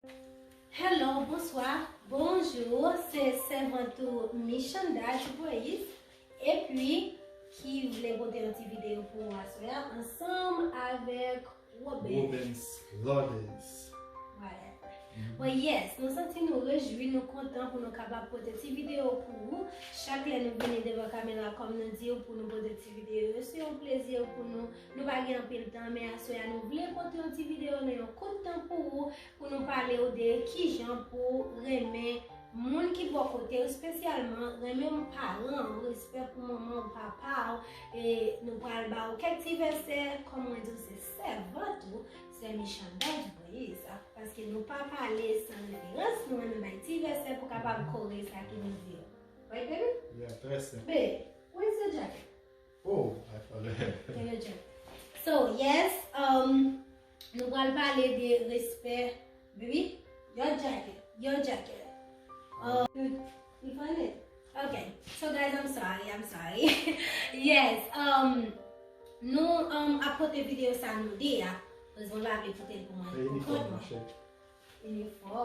Hello bonswa bonjour se sèvant ou michanda ki voye epi ki vle pote yon ti video pou ou aswè a ansanm avèk robens lodes whatever yes nou santi nou rejwi nou kontan pou nou kapab pote ti video pou ou chak lè nou vini devan kamera kòm nou diw pou nou pote ti video yo se yon plezi pou nou. Nou pa gen anpil tan men aswè a nou vle pote yon ti video nan yon kout tan pou ou pou nou pale ou de kijan pou ou renmen moun ki bò kote ou spesyalman renmen paran ou respè pou manman ou papa ou e nou pral ba ou kèk ti vèsè kòm mwen di ou se sèvant ou sè Michantaj Moise paske nou pa pale san reverans nou renmen bay ti vèsè pou kapab kore sa ki nou di yo Right baby? Yeah, trè senp. Babe, wè se djakèt. Oh I forget. Gen legend. So yes, um, nou pral pale de respè. Baby, your jacket, your jacket. Um, you find it? Okay. So guys, I'm sorry, I'm sorry. yes, um, nou um, apote video sa nou de ya. Rezon la vle kite l pou mwen. Pou kont mwen. Li fò.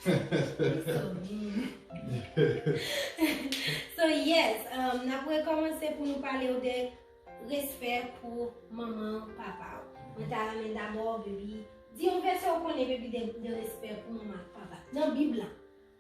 Li so mean. So yes, um, n ap rekòmanse pou nou pale ou de respè pou manman ou, papa ou. Mwen ta renmen dabò, bebi, di yon vèsè ou konnen bebi de respè pou manman ak papa. Nan bib la.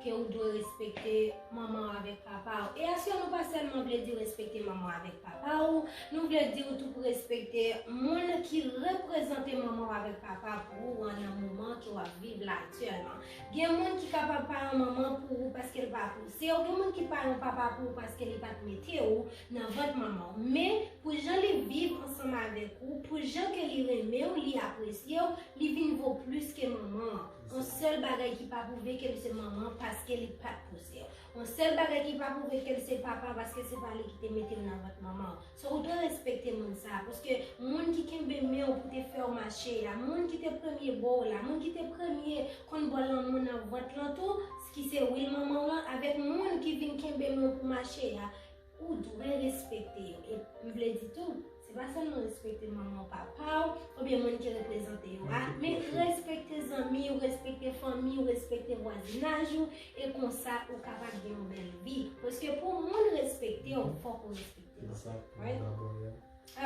Ke ou dwe respekte manman w avèk papa w. E asyon nou pa sèlman vle di respekte manman w avèk papa w, nou vle di ou tou pou respekte moun ki reprezante manman w avèk papa pou ou an nan moman ke w ap viv la aktyèlman. Gen moun ki kapab pa yon manman pou ou paske l pa pouse w, gen moun ki pa yon papa pou ou paske li pa t mete ou nan vant manman w. Men, pou jan li viv ansanm avèk ou, pou jan ke li renmen w, li apresye w, li vin vo plis ke manman an. On sèl bagay ki pa pwouve ke li se manman paske li pat pouse yo. On sèl bagay ki pa pwouve ke li se papa paske se pa li ki te mete yo nan vant manman w. So ou dwe respekte moun sa a paske moun ki kenbe men w pou te fè w mache a, moun ki te premye bo w la, moun ki te premye konn ba w lanmou nan vant lan tou, ki se wi manman w lan, avèk moun ki vin kenbe men w pou mache a, Ou dwe respekte yo. E m vle di tou, se pa sèlman respekte manman w, papa w, oubyen moun ki reprezante yo a, men respekte zanmi w, respekte fanmi w, respekte vwazinaj ou, e konsa ou kapab gen yon bèl vi. Paske pou moun respekte w, fòk ou respekte l. Right?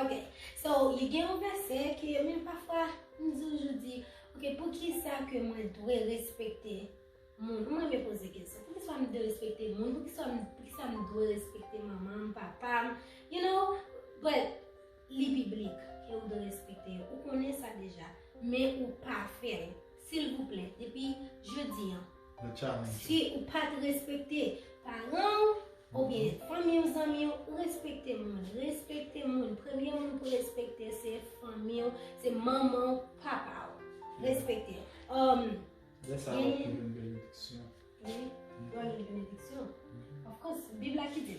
Ok, so li gen yon vèsè ke menm pafwa m toujou di, ok, poukisa ke mwen dwe respekte? Moun, m renmen poze kesyon. Poukisa m derespekte moun? Poukisa m dwe respekte manman m, papa m? You know? But, li biblik ke ou dwe respekte yo. Ou konnen sa deja. Men ou pa fè l. Silvouplè, depi jodi an, si ou pa t respekte paran w, oubyen fanmi w, zanmi w, respekte moun. Respekte moun. Premye moun pou respekte se fanmi w, se manman w, papa w. Respekte. Lè sa wap pi jwenn benediksyon. Wi, wap jwenn benediksyon. Of course, bib la ki di.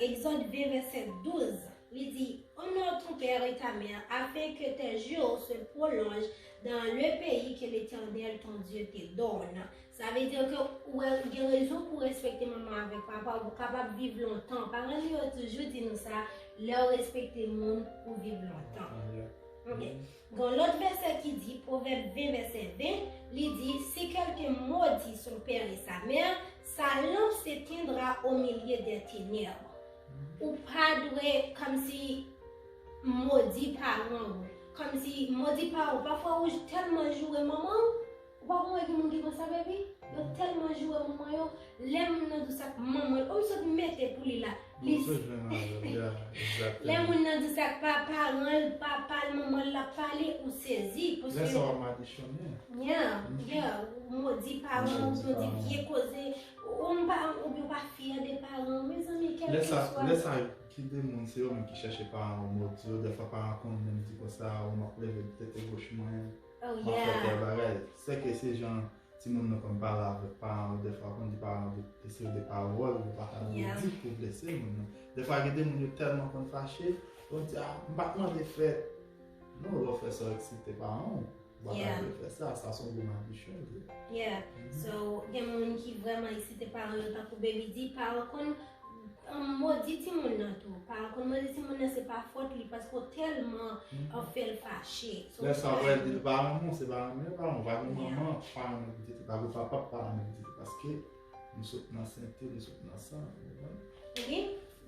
Exode 2 verset 12, li di, Honore ton père et ta mère afin que tes jours se prolongent dans le pays que l'Éternel ton Dieu te donne. Sa vle dire que ou gen rezon pou respekte manman avèk papa ou kapab viv lontan. Paran nou yo toujou di nou sa, lè ou respekte moun, ou viv lontan. Ok. Gon lòt vèsè ki di pwovèb 20 vèsè 20 li di si kèlkun modi son père et sa mère sa lanp se tendra o milye dè tenèb ou pa dwe kòmsi modi paran ou kòmsi modi paran ou pafwa ou tèlman joure manman ou Ou pa konn wè gen moun ki konsa baby yo telman joure moun mwen yo lè moun nan dous ak manmanl oh m sot mete pou li la li lè moun nan dous ak pa paranl papal manmanl lap pale ou sezi paske lè sa wap madichone yeah yeah ou modi paranw ou modi vye koze ou m pa ou byen ou pa fyè de paranw mezanmi kelke swa lè sa lè sa ki de moun se yo menm ki chache paranw modi yo dèfwa paran konn menm di konsa ou map leve tete goch mwen. Oh Map fè yeah! kè bagay. Sèke se jan timoun nou konn pale avèk paran yo dèfwa ou konn di paran yo de se de pawòl yo pa ta dwe di pou blese moun nan. Dèfwa gen de moun yo tèlman konn fache, yo di a m pa t mande fè non lè w fè sa w eksite paran w, ou pa ta dwe fè sa, sa s on gwo madichon ou ye. Yeah! So gen moun ki vrèman eksite paran yo tankou Baby di paran konn Modi timoun nan tou. Paran konn modi timoun nan se pa fòt li paske w tèlman ap fè l fache. Lè sa wè li pa renmen w se pa renmen l pa renmen w. Pa gen manman pa renmen pitit li, pa gen papa pa renmen pitit li paske nou sot nan sente, nou sot nan san. Ok,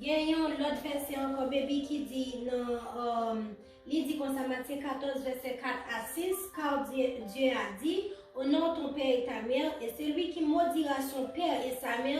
gen yon lòt vèsè ankò Baby ki di nan, li di konsa Matye 14 vèsè 4 a 6, Kar Dye a di, Onore ton pè e ta mè, e selui ki modira son pè e sa mè,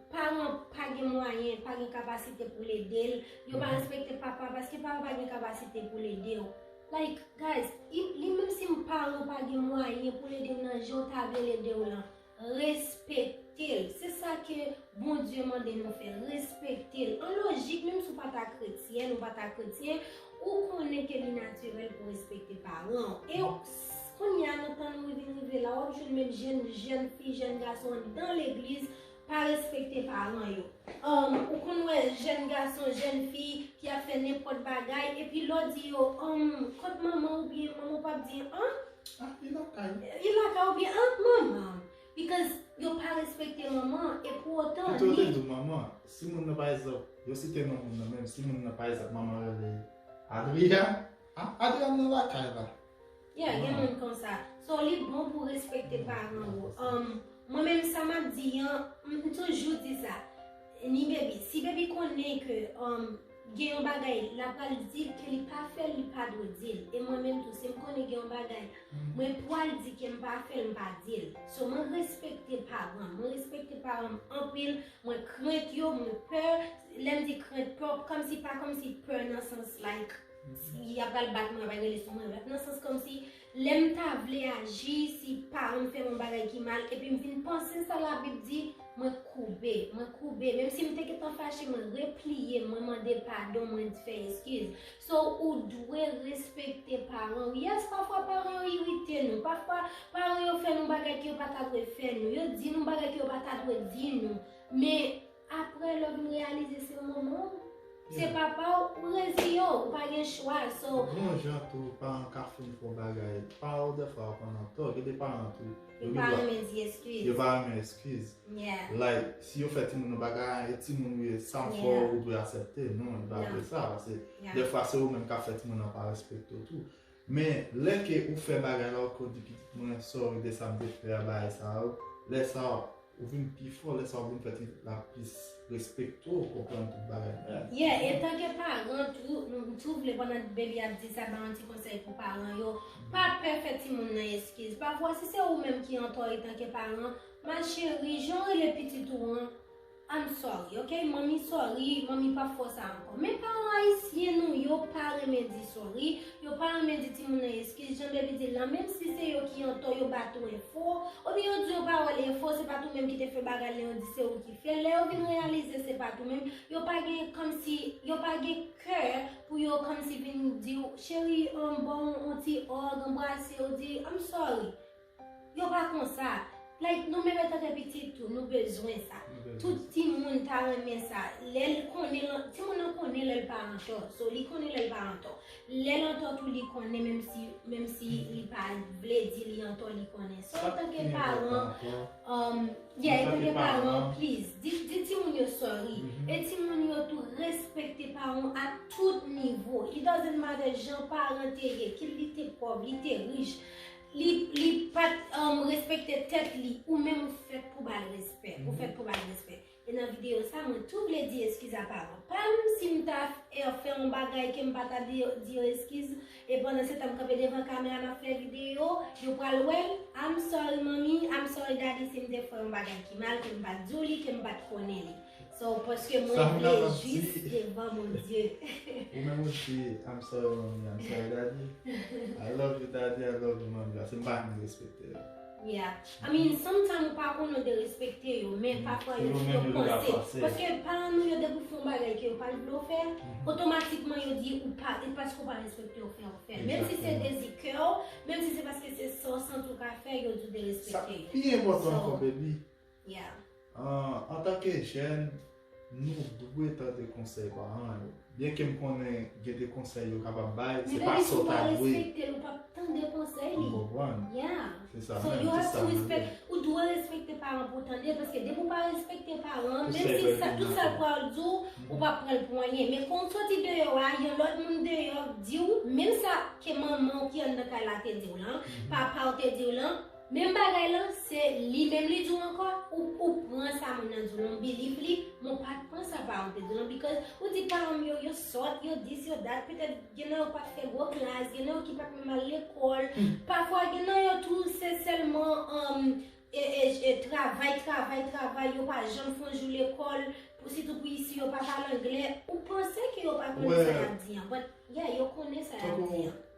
Paran pa gen mwayen, pa gen kapasite poul edel, yo pa respekte papa paske papa pa gen kapasite poul edew. Like guys, li menm si paran ou pa gen mwayen poul edew nan janw ta vlel edew lan, respektel. Se sa ke Bondye mande nou fè, respektel. An lojik menm si ou pa ta kretyèn, ou pa ta kretyen, ou konnen ke li natirèl pou respekte paranw. E kounya nan tan nou vin rive la, wap jwenn menm jèn fi, jèn gason andan legliz, Pa respekte paran yo. Umm ou konn wè jèn gason jèn fi ki ap fè nenpòt bagay epi lè w di yo umm kot manman w oubyen manman w pap di an Ah li lakay ou. Li lakay ou oubyen an manman m because yo pa respekte manman an e pou otan li. Pito yo te di w manman an. Si moun nan pa egzanp yo site non moun nan menm si moun nan pa egzanp manman rele Adrian, ah Adrian nan lakay la. Yeah gen moun konsa. So li bon pou respekte paran ou. Umm mwen menm sa map di an m toujou di sa ni baby si baby konnen ke umm gen yon bagay la pral dil ke li pa fèl li pa dwe dil e mwen menm tou sim konnen gen yon bagay mwen pwal di kem pa fèl m pa dil so mwen respekte paran mwen respekte paran m anpil mwen krent yo mwen pè lèm di krent pè kòmsi pa kòmsi pè nan sans like Si ya pral bat mwen, ya pral rele sou mwen. Nan sans kòm si, lè m ta vle aji, si paran m fè m yon bagay ki mal, epi m vin panse sa labib di, mwen koube. Mwen koube. Menm si m te gentan fache, mwen repliye m, mwen mande padon, mwen fè eskiz. So, ou dwe respekte paran ou. Yes, pafwa paran yo irite nou. Pafwa, paran yo fè nou bagay ke yo pa ta dwe fè nou. Yo di nou bagay ke yo pa ta dwe di nou. Men, Aprè lè m reyalize se manman w, se papa w, ou reziyen w, ou pa gen chwa so. Bon jan tou paran ka fin fè w bagay pa w dèfwa yo konn an tò, gen de paran tou yo gen dwa yo pa renmen eskiz like si yo fè timoun yo bagay an e timoun ou ye sa m fè w ou dwe asèpte non li pa vle sa paske dèfwa se ou menm k ap fè timoun nan pa respekte w tou. Men lè ke ou fè bagay la ou ko di pitit mwen sorry de sa m te fè a bagay sa yo, lè sa ou vin pi fò, lè sa ou vin fè ti pitit la plis respekte w, konprann tout bagay la. Yeah, e tan ke paran tou, m tou vle pandan Baby ap di sa, ba yon ti konsèy pou paran yo, pa pè fè timoun nan eskiz. Pafwa si se ou menm ki antò etan ke paran, ma chérie, jan w rele pitit ou an, I'm sorry ok manmi sorry manmi pap fè w sa ankò men paran ayisyen nou yo pa renmen di sorry yo pa renmen di timoun nan eskiz jan Baby di l lan menm si se yo ki antò yo bat ou enfo oubyen yo di w pawòl enfo se pat ou menm ki te fè bagay lan yo di se ou ki fè lè yo vin reyalize se pat ou menm yo pa gen kòmsi yo pa gen kè pou yo kòmsi vin di w cheri bon on ti òg anbrase w di I'm sorry Yo pa konsa. Like nou menm etan ke pitit tou nou bezwen sa. Tout timoun ta renmen sa. Lè l konnen, timoun nan konnen lè l pa antò. So li konnen lè l pa antò. Lè l antò tou li konnen menm si menm si li pa vle di li antò li konnen. So etan ke paran, umm yeah etan ke paran pliz di di timoun yo sorry. E timoun yo tou respekte paran w a tout nivo. It doesn't matter jan paran te ye, kit li te pòv, li te rich. Li pat respekte tèt li. Ou menm ou fèt pou bal respè. Ou fèt pou bal respè. E nan videyo sa mwen tou vle di eskiz a paran pam. Si m ta fè yon bagay ke m pa ta di yo eskiz. E pandan se tan m kanpe devan kamera map fè videyo. Yo pral wè l. I'm sorry mommy, I'm sorry daddy si m te fè yon bagay ki mal ke m pat di w li, ke m pat konnen li. So paske mwen vlejis devan Bondye. Ou menm ou si I'm sorry mommy, I'm sorry daddy. I love you daddy, I love you mommy. Ase mpa vin respekte yo. Yeah. I mean, sometimes ou pa konnen de respekte yo, men mm. papa yo di yo panse. Paske paran nou yo depi ou fon bagay ke yo pa vle ou fè, otomatikman mm-hmm. yo di ou pa, e paske ou pa respekte ou fè ou fè. Menm si se dezi kè ou, menm si se paske se sò san tou ka fè, yo di de respekte. Sa pi enpotan anko, baby. Yeah. Antanke jèn, nou dwe tande konsèy paran yo. Byenke m konnen gen de konsèy yo kapab bay, se pa sa w ta dwe. Men depi si w pa respekte l, ou pap tande konsèy li. M konprann. Yeah. Se sa menm, se sa m vle. Ou dwe respekte paran pou w tande l, paske depi w pa respekte paran, menm si sa, tout sa l pral di w, ou pap pran l pou anyen. Men kon w soti deyò a, yon lòt moun deyò di w, menm sa ke manman w ki anndan kay la te di w lan, papa w te di w lan, Menm bagay lan se li menm li di w ankò ou ou pran sa moun nan di w lan ou believe li men w pa pran sa paran w te di w lan because ou di paran m yo yo sòt yo dis yo dat petèt gen nan yo pat fè gwo klas gen nan yo ki pat menm al lekòl pafwa gen nan yo tou se sèlman an e travay travay travay yo pa janm fon jou lekòl pou sitou pou isi yo pa pale anglè ou panse ke yo pa konnen sa y ap di an but yeah yo konnen sa y ap di an.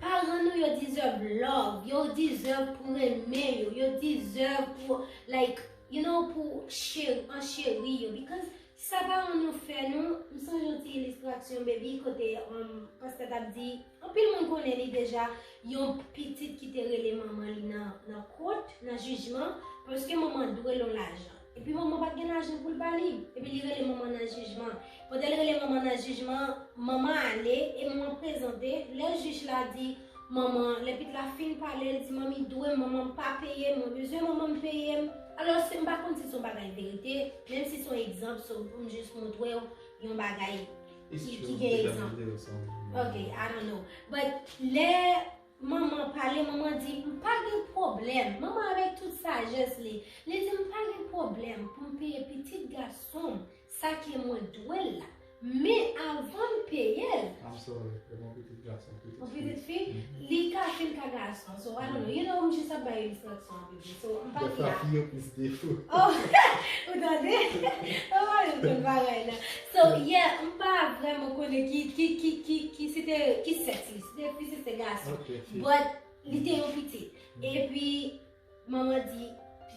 Paran nou yo deserve love, yo deserve pou renmen yo, yo deserve pou like you know pou an cheri yo because sa paran nou fè nou, m sonje yon ti ilistrasyon baby kote pastè tap di, anpil moun konnen li deja, yon pitit ki te rele manman li nan kot, nan jijman, paske manman dwe l yon lajan. Epi manman pat gen lajan poul ba li. Epi li rele manman nan jijman. Pandanl rele manman nan jijman, manman ale, e manman prezante, lè jij la di manman, lè pit la fin pale, l di manmi dwem, manmanm pa peyem, mwen bezwen manmanm peyem. Alos ke m pa konn si son bagay verite, menm si son egzanp so poum jis moutrew yon bagay ki gen egzanp. Ok, I don't know. But lè. Manman pale, manman di, m pa gen pwoblèm. Manman avèk tout sajès li, li di m pa gen pwoblèm pou m peye pitit gason m sa ke mwen dwe l la. Men avan m peye l. I'm sorry, e m yon pitit gason, pitit fi. Yon pitit fi, li ka fi, li ka gason. So I don't know, you know, m jis ap bay enstraksyon. So, m pa ki la. Oh, ou tande? Oh, yo tout bagay la. So, yeah, m pa vreman konnen ki, ki, ki, ki, ki se te, ki sèks li. Se te fi, se te gason. Ok, fi. But, li te yon pitit. E pi, manman di,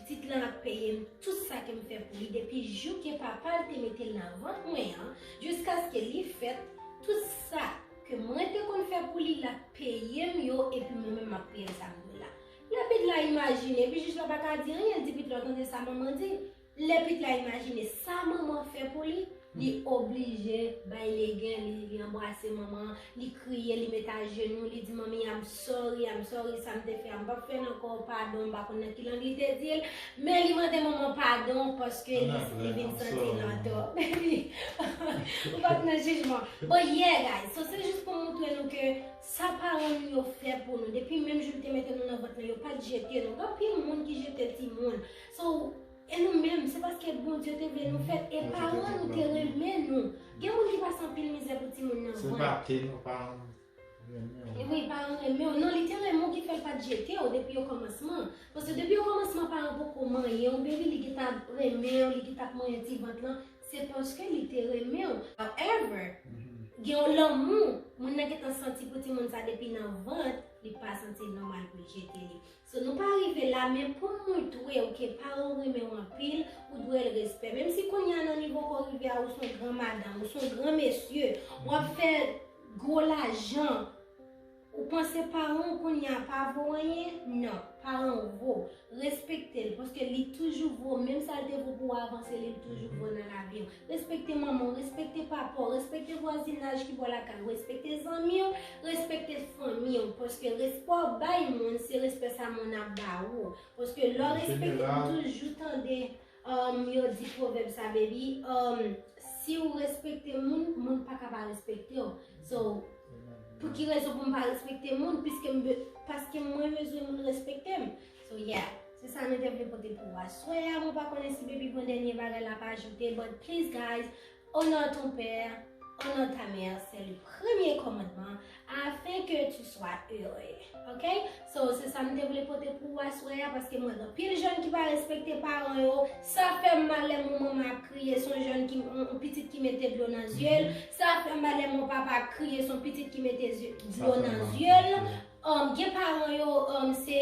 pitit lan ap peye m tout sa ke m fè pou li depi jou ke papa l te mete l nan vant mwen an, jiskaske li fèt, tout sa ke mwen te konn fè pou li, l ap peye m yo, e pi mwen menm m ap peye l sa m vle la. Lè pit la imajine, epi jij la pa ka di anyen, l di pit la, tande sa manman di, lè pit la imajine sa manman fè pou li, li oblije bay legen li, li anbrase manman an, li kriye, li mete ajenou, li di manmi I'm sorry, I'm sorry, sa m te fè a m p ap fè l ankò, padon, m pa konn nan ki lang li te di l, men li mande manman padon paske li vin santi l antò. Baby, ou pa t nan jijman. Bon yeah guys, so se jis pou m montre nou ke Sa paran nou yo fè pou nou depi menm jou l te mete nou nan vant lan yo pat jete nou gen anpil moun ki jete timoun so e nou menm se paske Bondye te vle nou fèt e paran nou te renmen nou gen moun ki pase anpil mizè pou timoun nan se pa te nou paran renmen wi paran renmen w non li te renmen w ki fè l pat jete w depi o kòmansman paske depi o kòmansman paran poko manyen w bebi li ki ta renmen w li ki tap manyen ti vant lan. Se paske li te renmen w. However, gen yon lanmou moun nan gentan santi pou timoun sa depi nan vant, li pa santi l nòmal pou l jete li. So nou pa rive la men pou m moutre w ke paran w renmen w anpil, ou dwe l respè. Menm si kounye a nan nivo ke w rive a ou son gran madanm, ou son gran mesye, w ap fè gwo lajan, Ou panse paran w kounye a pa vo anyen? Non, paran w vo. Respekte l, paske li toujou vo. Menm sa l te vo pou w avan, se li l toujou vo nan lavi w. Respekte manman w, respekte papa w, respekte vwazinaj ki bò lakay ou, respekte zanmi w, respekte fanmi w. Paske respè w bay moun, se respè sa moun ap ba ou. Paske lè w respekte, ou toujou tande. Humm yo di provèb sa baby humm siw respekte moun moun paka pa respektew so pou ki rezon poum pa respekte moun piskem paskem mwen bezwen moun respektem so yeah se sa nou te vle pote pou ou aswè a mwen pa konnen si baby pran dènye bagay lap ajoute but please guys O non ton pè, o non ta mè, se le premye kòmandman, afin ke tu swa ere. Ok? So, se sa m te vle pote pou ou aswè a, paske m wè gen anpil jèn ki pa respekte paran yo, sa fè m mal lè m wè manman ap kriye, son jèn ki, on pitit ki mete dlo nan zye l, sa fè m mal lè m wè papa ap kriye, son pitit ki mete dlo nan zye l. Gen paran yo, se.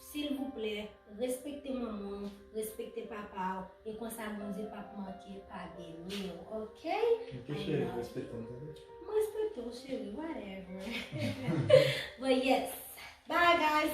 Silvouplè respekte manmanw respekte papaw e konsa bondye pap manke pa beniw ok I love you m respekte w cheri whatever but yes bye guys.